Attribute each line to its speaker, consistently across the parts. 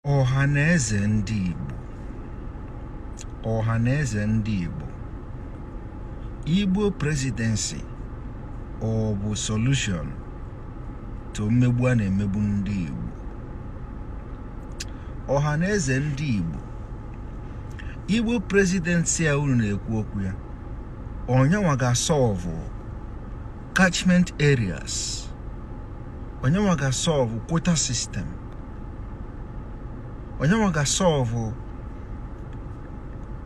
Speaker 1: ọha na eze ndị Igbo ọha na eze ndị Igbo Igbo presidency ọ bụ solution to mmegbu a na-emegbu ndị Igbo ọha na eze ndị Igbo Igbo presidency a unu na-ekwu okwu ya ọ nyanwa ga-asọlvụ catchment areas ọ nyanwa ga-asọlvụ quota system ọ nyanwa ga-asọlvụ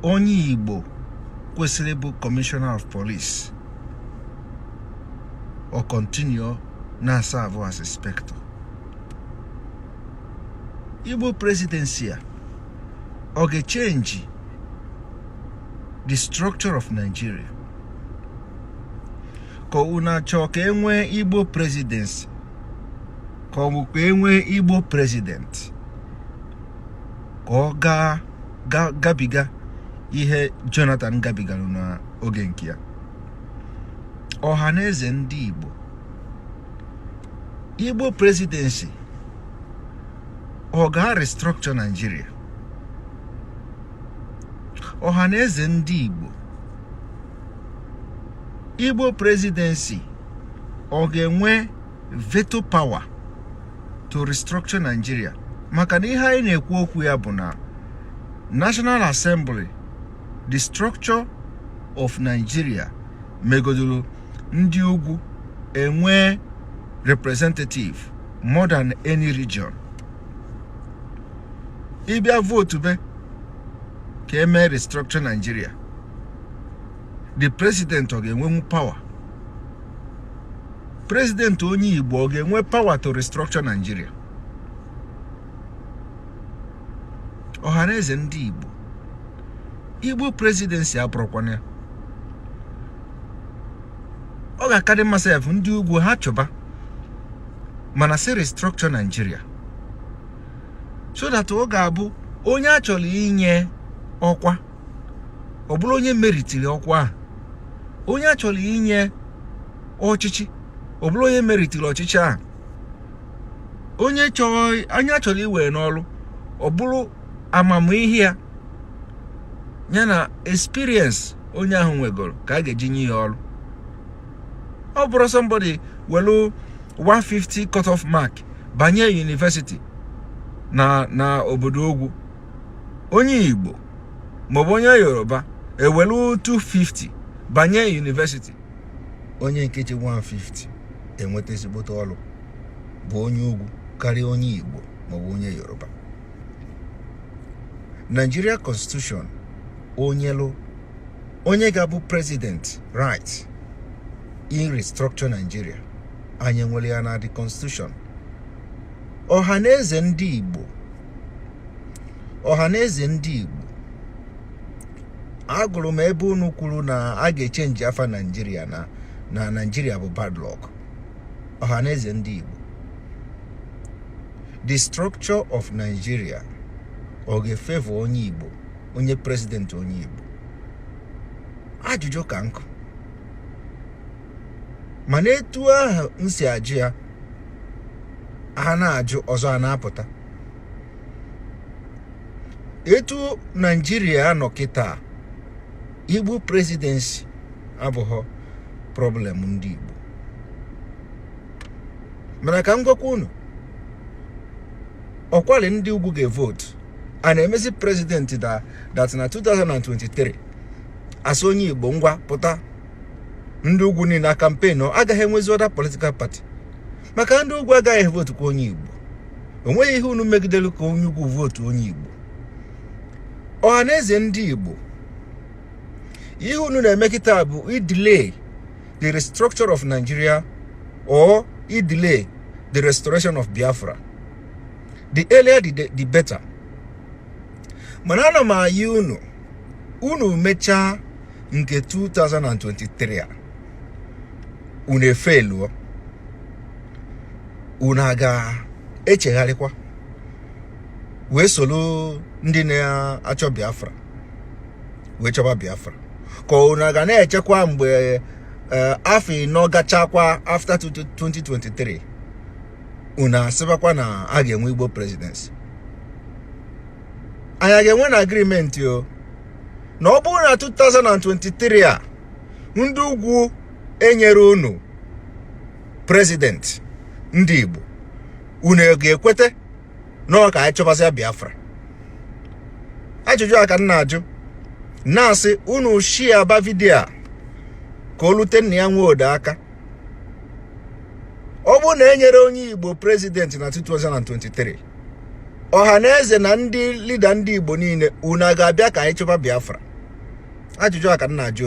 Speaker 1: onye igbo kwesịrị ịbụ commissioner of police ọ kọntinuo na-asavụ as inspector igbo presidency a ọ ga-echenji the structure of nigeria ka unu na-achọ ka e nwee igbo presidency ka ọ bụ ka e nwee igbo president ka ọ gaa gabiga ihe jonathan gabigara n'oge nke ya ọha na eze ndị igbo igbo presidency ọ ga-restructure naijiria ọha na eze ndị igbo Igbo presidency ọ ga-enwe veto power to restructure Nigeria maka na ihe anyị na-ekwu okwu ya bụ na National Assembly the structure of Nigeria megodoro ndị ugwu enwee representative more than any region ị bịa votube ka e mee restructure Nigeria the president ọ ga-enwenwu power president onye Igbo ọ ga-enwe power to restructure Nigeria ọhaneze ndị Igbo Igbo presidency abụrụkwana ya ọ ga-akadị mma sef ndị ugwu ha chịba mana si restructure Nigeria so that ọ ga-abụ onye a chọrọ inye ọkwa ọ bụrụ onye meritiri ọkwa ahụ onye a chọrọ inye ọchịchị ọ bụrụ onye meritiri ọchịchị ahụ onye chọrọ onye a chọrọ iwe n'ọrụ ọ bụrụ amamihe ya ya na experience onye ahụ nwegoro ka a ga-eji nye ya ọrụ ọ bụrọ somebody nwelu 150 cut off mark banye yunivesiti na obodo ugwu onye igbo maọbụ onye yoruba ewere 250 banye yunivesiti onye nke ji 150 enweta ezigbote ọrụ bụ onye ugwu karịa onye igbo maọbụ onye yoruba Nigeria constitution o nyelu onye ga-abụ president right irestructure Nigeria anyị nwere ya na the constitution ọha na eze ndị Igbo ọha na eze ndị Igbo agụrụ m ebe unu kwuru na a ga-echenji afa Naijiria na na Naijiria bụ bad luck ọha na eze ndị Igbo the structure of Nigeria ọ ga-efevọ onye Igbo onye prezidenti onye Igbo ajụjụ ka nkụ mana etu ahụ m si ajụ ya ha na-ajụ ọzọ a na-apụta etu naijiria nọ kịta igbo presidency abụghọ problem ndị igbo mana ka m gwakwa unu ọkwali ndị ugwu ga-evotu a na-emezi prezidenti dat na 2023 a sị onye igbo ngwa pụta ndị ugwu niile na kampen agaghị enwezi ọda politikal pati maka ndị ugwu agaghị vootukwa onye igbo o nweghị ihe unu megidere ka onye ugwu vootu onye igbo ọha na eze ndị igbo ihe unu na-eme kịta bụ idelay the restructure of nigeria or idelay the restoration of biafra the earlier the better mana ana m ayọ unu unu mechaa nke 2023 a unu efeluo unu a ga-echegharịkwa wee soro ndị na-achọ Biafra wee chọba Biafra ka unu a ga na-echekwa mgbe eh, afọ ịnọ gachakwa after 2023 unu asịbakwa na a ga-enwe Igbo presidency anyị ga-enwe na agrimenti o na ọ bụrụ na 2023 a ndị ugwu enyerọ unu prezidenti ndị Igbo unu ga-ekweta na ọ ka anyị chọbazia Biafra ajụjụ a ka m na-ajụ na-asị unu shiaba vidio a ka o lute Nnia Nwodo aka ọ bụrụ na enyerọ onye Igbo prezidenti na 2023 ọha na eze na ndị lida ndị Igbo niile unu a ga-abịa ka anyị chọba Biafra ajụjụ a ka m na-ajụ